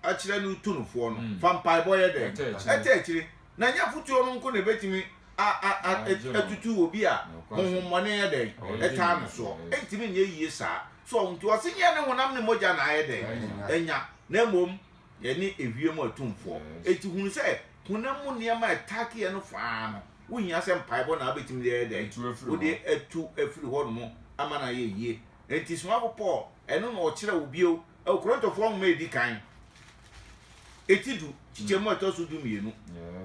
Speaker 2: akyerɛ no tu no foɔ no, fa mpaebɔ yɛ dɛn? Ɛtɛ akyire. Na ɛnyɛ afotuo no nko na ɛbɛtumi atutu obi a honhommɔne yɛ dɛn? Ɛtaa no soɔ. Ɛntumi nyɛ yie saa. So ahu nti, ɔse nyɛ ne honam ne mogya na ayɛ dɛn? Anya. Na mmom. Yɛne ewiem atumfoɔ. Enti hunu sɛ honam mu nneɛma a ɛtake yɛn no fã ara no, wohia sɛ mpaebɔ na wobetumi de ayɛ dɛn? Wode atu afiri hɔnom ama no ayɛ yiye. Enti somafo Paul, ɛno na ɔkyerɛ wo bio wɔ Korintofoɔ Nwoma a Edi Kan, ti du, nkyekyɛmu a ɛtɔ so dumienu.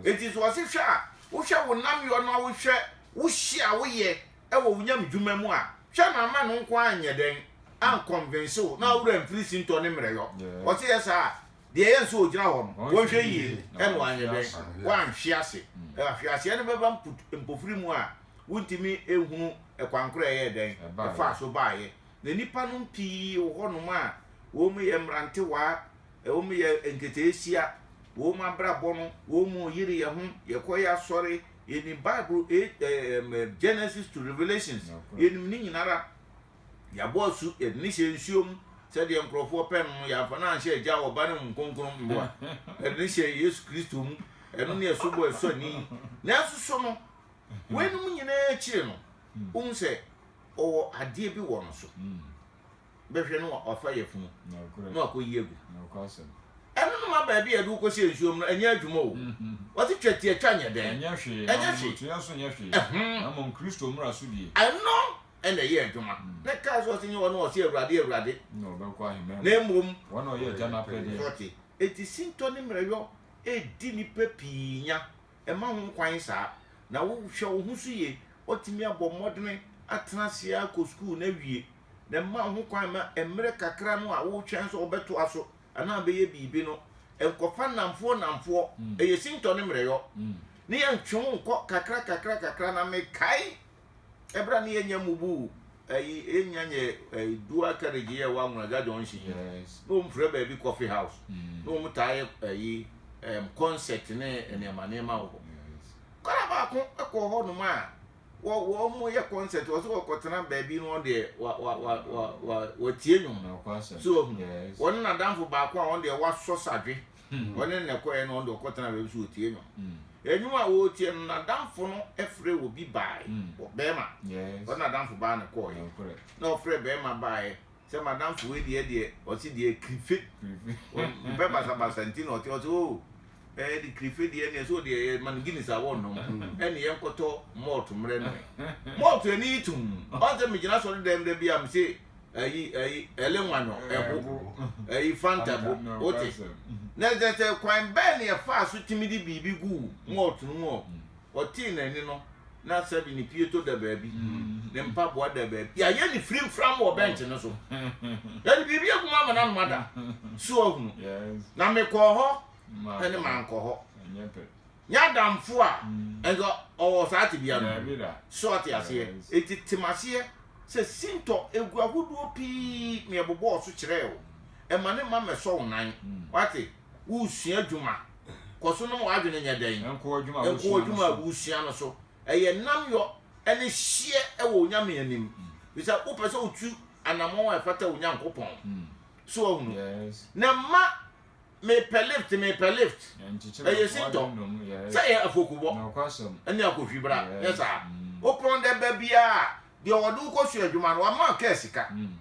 Speaker 2: Enti sɛ ɔse hwɛ a wohwɛ wo nnamyɔ no a wohwɛ wo hye a woyɛ wɔ wo nyamedwuma mu a, hwɛ na ama no nko ara nyɛ dɛn ankɔnvense wo na w'awura mfiri sintɔ ne mmerɛyɔ. Ɔte yɛ saa a, deɛ ɛyɛ nso ɔgyina hɔ no, wɔnhwɛ yie na wanyɛ dɛn, wanhwe ase. Ahweaseɛ no bɛba mput mpofiri mu a wontumi nhunu kwan korɔ a ɛyɛɛ dɛn ɛfaa so baeɛ. Na nnipa nom pii wɔ hɔ nom a wɔn yɛ mmerantewaa, wɔn yɛ nketeesia, wɔn abrabɔ no, wɔn yere yɛ ho, yɛkɔ yɛ asɔre, Yɛnim Bible A, ɛ, ɛm, ɛ, Genesis to Revelations. Nokorɛ. Yɛnim ne nyinara. Yɛabɔ asu, yɛde no hyɛɛ nsuo mu, sɛdeɛ nkorɔfoɔ pɛ no no, yɛamfa no anhyɛ Agya, Ɔba, ne Honhom Kronkron mmoa. Yɛde no hyɛɛ Yesu Kristo mu, ɛno ne asubɔ a ɛsɔ ani. Nanso so no, weinom nyinaa akyire no, wohu sɛ Ɔwɔ adeɛ bi wɔ no so? bɛhwɛ no wafa yafunu na wakɔyi agu ɛno no ma baabi a yɛde wo kɔhyɛ nsuo mu no ɛnyɛ adwuma o wɔte twa ti atwa nyɛ dɛn ɛnyɛ hwee ɛnyɛ hwee
Speaker 3: tua so nyɛ hwee na mmom kristo mmara so die ɛno ɛna
Speaker 2: ɛyɛ adwuma na kaa so ɔse nyɛ wɔn ɔse awurade awurade na ɔbɛkɔ ahemman
Speaker 3: na mmom wɔn ɔyɛ
Speaker 2: agya no apɛdeɛ
Speaker 3: sɔte eti sintɔ
Speaker 2: ne mmerɛyɔ ɛdi nipa pii nya ɛma ho kwan saa na wohwɛ wo ho so yie watumi abɔ mmɔdene atena ase akɔ sukuu na wie na mma ho kwan ma mmerɛ kakra no a woretwɛn sɛ wɔbɛtoa so anaa wɔbɛyɛ biribi no nkɔfa nnamfoɔ nnamfoɔ. Mm. Ɛyɛ sintɔ ne mmerɛyɔ. Mm. Ne yɛntwe ho nkɔ kakra kakra kakra na mekae ɛberɛ a ne yɛnyɛ mubu ɛyi ɛnya nyɛ ɛyi dua carriage yɛ wɔ Anwonaja junction yi na wɔn frɛ baabi coffee house mm. na wɔn taa yɛ ɛyi ɛm concert ne nneɛma nneɛma wɔ hɔ kɔla baako ɛkɔ hɔ nom a wɔ wɔn yɛ concert wɔ so wɔkɔ tena baabi no wɔn deɛ wa wa wa wa wa wɔtie nnwom so wɔn wɔn ne n'adanfo baako a wɔn deɛ wasɔ sadwe hmm. wɔn ne n'ɛkɔɛ no wɔn deɛ ɔkɔ tena baabi so wɔtie nnwom nnwom hmm. a wɔretie no n'adanfo no ɛfrɛ wɔ bi baae hmm. wɔ bɛrima wɔn n'adanfo baa ne kɔɔɛ na ɔfrɛ bɛrima baaɛ Sɛ madamfo wei deɛ ɛdeɛ ɔse deɛ krife ɔmpɛ basabasa nti na ɔte ɔse oh ɛɛ de krife deɛ ɛneɛ so deɛ yɛ ma no Guinness a wɔnnom ɛne yɛn kɔtɔ malt mmerɛ noe malt ani yi tum ɔnsɛ megyina sɔre dɛm da bi a mese ɛyi ɛyi ɛle nwanyɔ ɛbo ɛyi fanta bo wote na ɛsɛ sɛ kwan bɛɛ ne ɛfaa so timi de biribi guu malt no mu ɔ ɔtee n'ani no na sɛbi ne pieto da baabi ne mpaboa da baabi yɛayɛ ne firi mfram wɔ bɛnkye no so yɛde biribi agu mu ama no anoma da so ahunu na mekɔɔ hɔ ɛne mankɔ hɔ nyɛ adamfo a ɛnso ɔwɔ saa tebea no so ɔte aseɛ ɛti tem aseɛ sɛ sintɔ ɛgu ahodoɔ pii meɛbobɔɔ so kyerɛɛ wo ɛma ne ma mɛsɔ wo nan wate woresua adwuma, kɔ so na ma w'adwene nyɛ dɛn? Nkoa adwuma a Nkoa woresua no adwuma a so. woresua no so. Ɛyɛ nnamyɔ ne hyeɛ wɔ Onyame anim. Ɛfiri sɛ wopɛ sɛ wotu anammɔn a ɛfata wɔ Onyankopɔn. So wahunu? Yes. Na mma mepɛ lift, mepɛ lift. Ɛnkyekyere Ɛyɛ nkoa sintɔ. adwene mu. Yes. Sɛ ɛyɛ afokubɔ Nokwasɛm. ne akohwibra. Nyɛ Yes. saa. Mm. Wopɔn dɛ ba biara a, deɛ ɔde wo kɔsua adwuma no, wama wo kaa sika. Mm.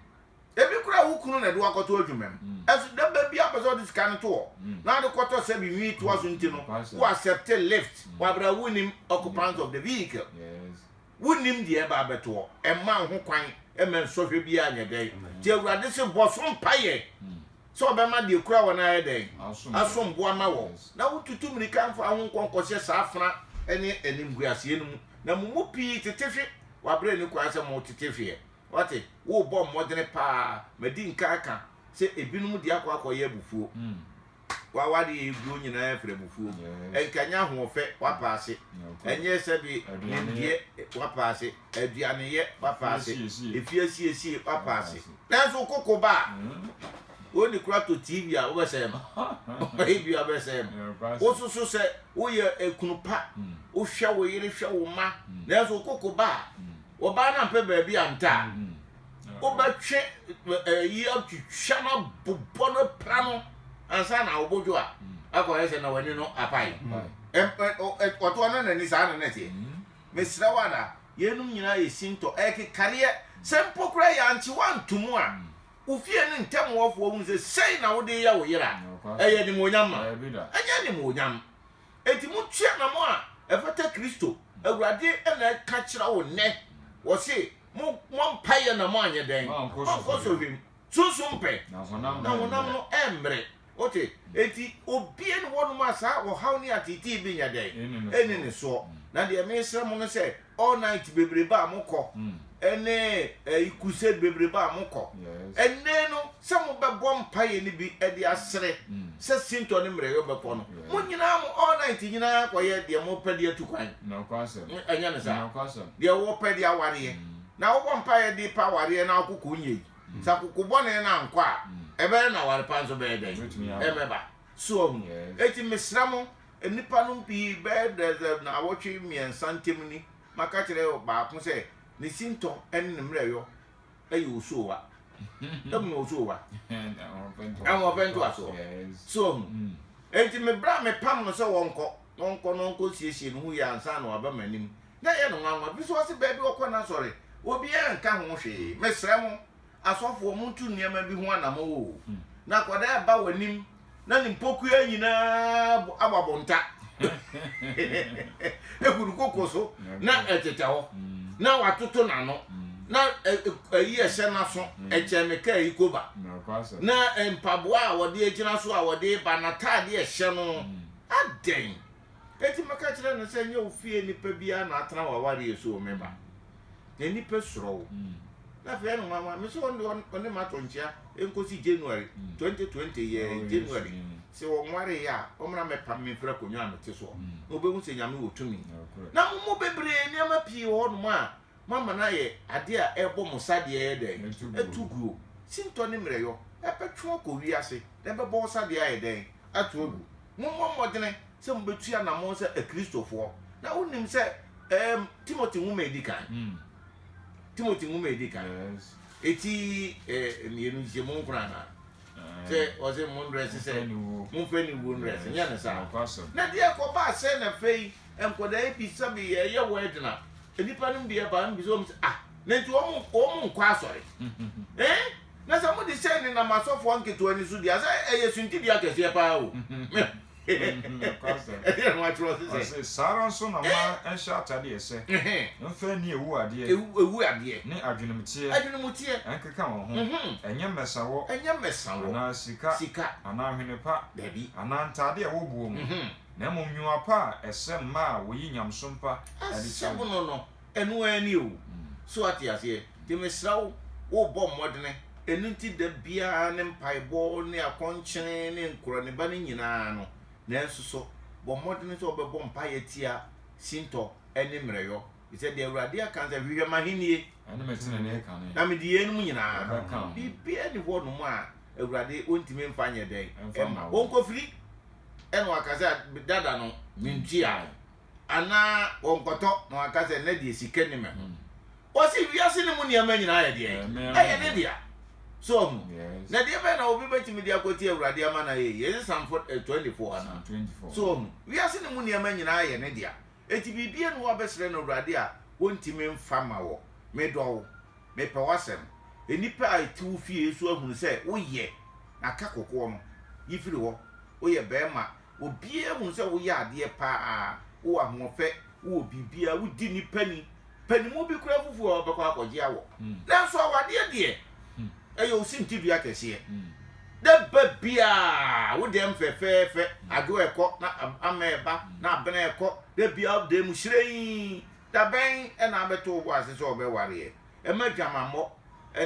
Speaker 2: Ebi koraa wo kunu na ɛde wo akɔto adwumam. Ɛso da ba biara pɛ sɛ ɔde sika no to hɔ na ade kɔtɔ sɛbi nwi toa so nti no wo accept lift. Wabra wonnim occupant of the vehicle. Wonnim deɛ ɛba abɛto hɔ. Ɛmma wo ho kwan mma nsɔhwɛ biara nyɛ dɛn. Nti Awurade se bɔ so mpaeɛ sɛ ɔbɛma deɛ ɛkura wɔ no ayɛ dɛn? Asom bo ama wɔ. Na wo tutu mmirika mfa wo ho nkɔ nkɔhyɛ saa afena ne animguaseɛ no mu. Na mo mu pii tete hwe wɔ aberɛ a ɛni kwan sɛ mo tete hweɛ. Woate? Worebɔ mmɔdene paa. Madi nkan aka sɛ ebinom de akɔ akɔyɛ abufuo. Wa, w'ade a ɛreguo nyinaa firi abufuo. Ɛnka ɛnyɛ ahoɔfɛ, woapaase. Ɛnyɛ sɛbe nimdeɛ, woapaase. Aduaneyɛ, woapaase. Efie asiesie, woapaase. Nanso wo koko ba a, wei de koraa tɔ TV a, wobɛsɛe no. Ebia wobɛsɛe no. Wosusu sɛ woyɛ kunu pa. Wohwɛ wo yere, hwɛ wo mma. Nanso wo koko ba a, wɔbaa no ampɛ baabi anta a wobɛtwe yi atwitwa no abobɔ no pra no ansa na wobɔdwo a akɔyɛ sɛ na w'ani no apae ɔtoɔ no n'ani saa na na ɛteɛ mesrɛ wo ada yeinom nyinaa yɛ sintɔ ɛkekareɛ sɛ mpo koraa yɛ ankye woantomu a wo fie no ntɛm wɔfoɔ hu sɛ sei na wode yɛ wo yera ɛyɛ animuonyam ma ɛnyɛ animuonyam Enti montwe anammɔn a ɛfata Kristo, Awurade na ɛka kyerɛ wo nnɛ. Ɔse mo mmɔ mpaeɛ na mo anyɛ dɛn? Moankɔ sɔhwɛ mu. Sunsum mpɛ, na honam no ɛmmrɛ. Wote? Enti obie ne hɔnom a saa ɔhaw ne ateetee bɛnya dɛn? Ɛnni ne soɔ. Na deɛ meresrɛ mo no sɛ all night bebrebe a mokɔ ɛne ɛyi crusade bebrebe a mokɔ ɛnɛ no sɛ mobɛbɔ mpaeɛ no bi ɛde asere sɛ sintɔ ne mmerɛyɔ bɛkɔ no mo nyinaa mo all night nyinaa kɔyɛ deɛ mopɛ de atu kwan
Speaker 3: ɛnyɛ ne saa
Speaker 2: deɛ wɔpɛ de awareɛ na wobɔ mpaeɛ de pa awareɛ na akoko nyɛ yi sɛ akoko bɔne no ankɔ a ɛbɛyɛ na aware pa nso bɛyɛ dɛn ɛmɛba so ahu eti mesrɛ mo Nnipa nom pii bɛyɛ dɛ naawɔtwe mmiɛnsa ntem ni maka kyerɛ baako sɛ ne sintɔ ne ne mmerɛyɔ yɛ osuowa. Ehu ne osuowa. Ahoɔfɛ ntoasoɔ. So ahu? Enti me berɛ a mepam no sɛ wɔnkɔ na ɔnkɔ na ɔnkɔ siesie ne ho yie ansa na waba m'anim na ɛyɛ no nwanwa. Ɛfiri sɛ ɔse baabi ɔkɔ no asɔre obiara nka ho hwee. Mesrɛ mo. Asɔfoɔ, monto nneɛma bi ho anammɔn o, na akwadaa a ɛba w'anim na ne mpokua nyinaa abɔ abonta egu ne koko so na ɛtetɛ hɔ na watoto n'ano na ayi ɛhyɛ n'aso ɛkyɛn me kaa yi koba na mpaboa a wɔde agyina so a wɔde ba n'ataade ɛhyɛ no adɛn. Enti mɛka kyerɛ no sɛ, 'Nyɛ wo fie nipa biara na atena w'awareɛ so o, me ba. Na nnipa suro wo. Na afei ɛne nwanwa. Me se ɔno deɛ ɔne me atɔ nkyea nkɔsi January 2020 yɛɛ January. Sɛ ɔnwareeɛ a, ɔmmra mmɛpam me mfiri akonnwa a mete soɔ, na ɔbɛhu sɛ Nyame wɔ tumi. Na mo mu bebree, nneɛma pii wɔ hɔnom a. moama no ayɛ adeɛ a ɛrebɔ mo sadeɛ ayɛ dɛn? Atu guo. Sintɔ ne mmerɛyɔ bɛtwe wo akɔ wiase na ɛbɛbɔ wo sadeɛ ayɛ dɛn? Ato agu. Mommɔ mmɔdene sɛ mobɛtu anammɔn sɛ Akristofoɔ. Na wonim sɛ ɛɛm Timothy nwoma a ɛdi kan. Timothy nwoma a ɛdi kan. Ɛti ɛɛ mmienu nhyiamu nkron anaa? Sɛ ɔse mo ndrɛse sɛ momfa aniwuo ndrɛse, nyɛ no saa. Na deɛ ɛkɔbaa sɛn afei? Nkwadaa yi bisa bi yɛ yɛ wedding a nipa no bi ɛba no bisa wɔn sɛ ah na nti wɔn wɔn nkɔ asɔre ɛn na sɛ mo de sɛ ne nam asɔfoɔ nketewa ni so di asɛ ɛyɛ suntidua kɛseɛ paa o ɛdeɛ na
Speaker 3: wɔatwerɛ ɔse sɛ ɔse saa ara nso na ma ɛnhyɛ atadeɛ ɛsɛ mfa ani ewu adeɛ ewu adeɛ ne adwenemteɛ adwenemteɛ ɛnkeka wɔn ho ɛnyɛ mmɛsawɔ ɛnyɛ mmɛsawɔ anaa sika sika anaa hwene pa dabi anaa ntadeɛ
Speaker 2: a ɛwɔ
Speaker 3: boɔ mu na mmom nnwuma pa a ɛsɛ mma a wɔyi nyamesom pa adi kyerɛ no. Asɛm no
Speaker 2: no, ɛno ara ni o. So woate aseɛ? Enti mesrɛ wo, wobɔ mmɔdene. Ɛno nti da biara ne mpaebɔ ne akɔnkyene ne nkoraniba no nyinaa no, nanso so bɔ mmɔdene sɛ wobɛbɔ mpaeɛ atia sintɔ ne mmerɛyɔ, ɛfiri sɛ deɛ Awurade aka ne sɛ, Hwehwɛ m'ahennie,
Speaker 3: na mede yeinom nyinaa
Speaker 2: bɛka ho. Biribiara nni hɔnom a Awurade ɔntumi mfa nyɛ dɛn mma wo. Ɔnkɔfiri. na waka sɛ dada no mentua no anaa wɔnkɔtɔ na waka sɛ na deɛ sika ni me ho hmm. ɔsi wiase no mu nneɛma nyinaa yɛ deɛ ɛyɛ ne dea so ɔhu na deɛ bɛn na obi bɛtumi de akɔti awurade ama no ayɛ yɛse samfo 24 ana so ɔhu
Speaker 3: wiase no
Speaker 2: mu nneɛma nyinaa yɛ ne dea ɛti biribia no wabɛsrɛ no awurade a wɔntumi mfa ma wɔ medɔwo Mepɛ w'asɛm. Nnipa a ɛte wo fie nso ahunu sɛ woyɛ, na ka kokoɔ no yi firi hɔ. Woyɛ barima, obiara ahunu sɛ woyɛ adeɛ pa ara, wowɔ ahoɔfɛ, wowɔ biribiara, wodi nnipa ni. Panimu bi koraa afufu a ɔbɛkɔ akɔgye awɔ. Nanso awadeɛ deɛ, ɛyɛ osintidua kɛseɛ. Da ba biara, wo dɛm fɛfɛɛfɛ, adwo rekɔ, na amena reba, na abena rekɔ, da biara wo dan mu hyerɛnn, Da bɛn na abɛto wo bo ase sɛ wɔbɛware ɛ? Mma adwamammɔ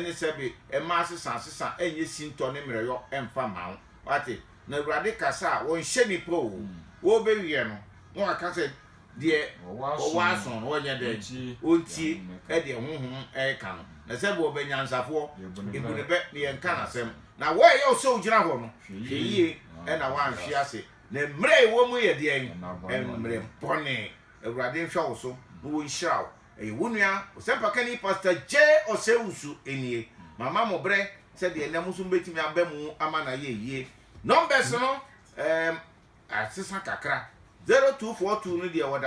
Speaker 2: ne sɛbe mma asesaasesa nyɛ sintɔ ne mmerɛyɔ mfa mma wo. Woate? Na Awurade kasa a wɔnhyɛ nnipa o, wɔbɛwiɛ no na wɔaka sɛ, Deɛ ɔwɔ aso no ɔnyɛ dɛn? Ɔntie deɛ Honhom reka no. Na sɛbe wɔbɛ nyansafoɔ, bu no bɛ na yɛnka n'asɛm. Na wo a ɛyɛ wo sɛ wogyina hɔ no, hwɛ yie na woanhwe ase. Na mmerɛ a yɛwɔ mu yɛ deɛn? Mmerɛ bɔne. Awurade nhwɛ wo so na ɔnhyira wo. Ɛyɛ wo nua Ɔsɛmpakani Pastor J. Osei-Usu nie. Mama mo berɛ sɛdeɛ nnɛ mo nso mobɛtumi aba mu ama no ayɛ yie. Numbers no ɛɛm asesa kakra. 0242 no deɛ wɔda do.